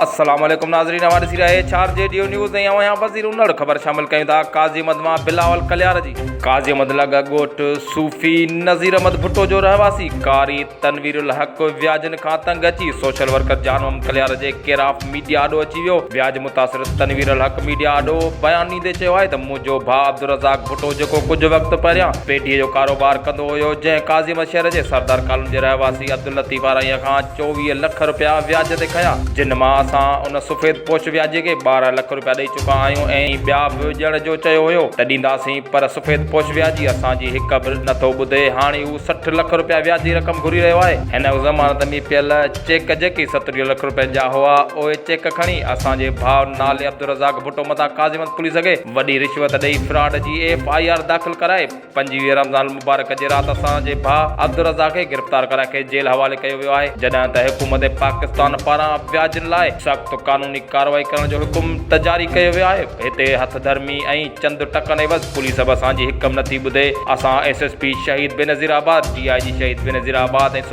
السلام عليڪم ناظرين اوهان ڏسي رهيا H R G Dev news ۽ اوهان وزير انڙ خبر شامل ڪيون ٿا قاضي احمد مان بلاول ڪليار جي قاضي احمد لڳ ڳوٺ صوفي نظير احمد ڀٽو جو رهواسي قاري تنوير الحق وياجن کان تنگ اچي سوشل ورڪر جان احمد ڪليار جي ڪيراف ميڊيا آڏو اچي ويو، وياج متاثر تنوير الحق ميڊيا آڏو بيان ڏيندي چيو آهي ته منهنجو ڀاء عبدالرزاق ڀٽو جيڪو ڪجهه وقت پهريان پيڍي جو ڪاروبار ڪندو هيو جنهن ڪاظيم شهر جي سردار ڪالوني جي رهواسي عبداللطيف آرائينء کان چوويهه لک رپيا وياج تي کنيا جن مان اسان ان سفيد پوش وياجي کي ٻارهن لک رپيا ڏئي چڪا آهيون ۽ ٻيا به ڏيڻ جو چيو هيو ته ڏينداسين پر سفيد پوش وياجي اسان جي هڪ به نٿو ٻڌي هاڻي هو سٺ لک رپيا وياجي رقم گهري رهيو آهي هن ضمانت ۾ پيل چيڪ جيڪي ستريهه لک روپين جا هئا اهي چيڪ کڻي اسان جي ڀاء نالي عبدالرزاق ڀٽو مٿان قاضيمت پوليس اڳي وڏي رشوت ڏئي فراڊ جي ايف آء آر داخل ڪرائي پنجويهه رمضان المبارڪ جي رات اسان جي ڀاء عبدالرزاق کي گرفتار ڪرائي کيس جيل حوالي ڪيو ويو آهي جڏهن ته حڪومت پاڪستان پاران وياجن لاء سخت قانوني ڪارروائي ڪرڻ جو حڪم ته جاري ڪيو ويو آهي هتي هٿ ڌرمي ۽ چند ٽڪن عيوض پوليس به اسان جي حڪم نٿي ٻڌي اسان S S P Shaheed Benazir آباد ڊي آء جي شهيد بينظير آباد ۽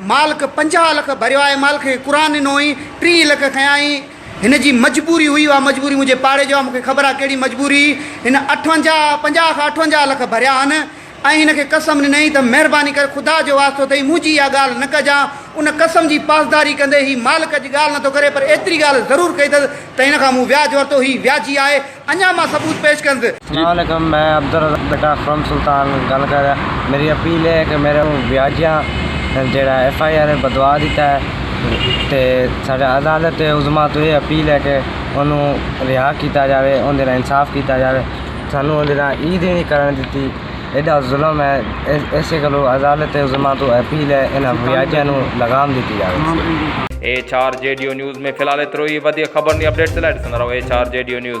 مالڪ پنجاهه لک ڀريو آهي مالڪ کي قرآن ڏنو هئين ٽيهه لک کنيائين هن جي مجبوري هئي اها مجبوري منهنجي پاڙي جو آهي مونکي خبر آهي ڪهڙي مجبوري هن اٺونجاهه پنجاهه کان اٺونجاهه لک ڀريا هن ۽ هن کي قسم ڏنائين ته مهرباني ڪري خدا جو واسطو اٿئي منهنجي اها ڳالهه نه ڪجان ان قسم جي پاسداري ڪندي هي مالڪ جي ڳالهه نٿو ڪري پر ايتري ڳالهه ضرور ڪئي اٿس ته هن کان مون وياج ورتو هي وياجي آهي اڃا مان ثبوت پيش ڪندس. سلام عليڪم مين عبدالرزاق بيٽا فرام سلطان گال ڪريا ميري اپيل هي ڪه ميري اون وياجيا جيڙا ايف آئي آر بدوا دي تاهي تي ساڙي عدالت عظميٰ تو هي اپيل هي ڪه اونو ريها ڪيتا جاوي اون دينا انصاف ڪيتا جاوي سانو اون دينا عيد هي ني ڪرڻ دتي ايدا ظلم هي ايسي گلو عدالت عظميٰ تو اپيل هي اينا وياجيا نو لغام دتي جاوي. H R G Dev news ۾ في الحال ايترو ئي وڌيڪ خبرن ۽ اپڊيٽس لاء ڏسندا رهو H R G Dev news.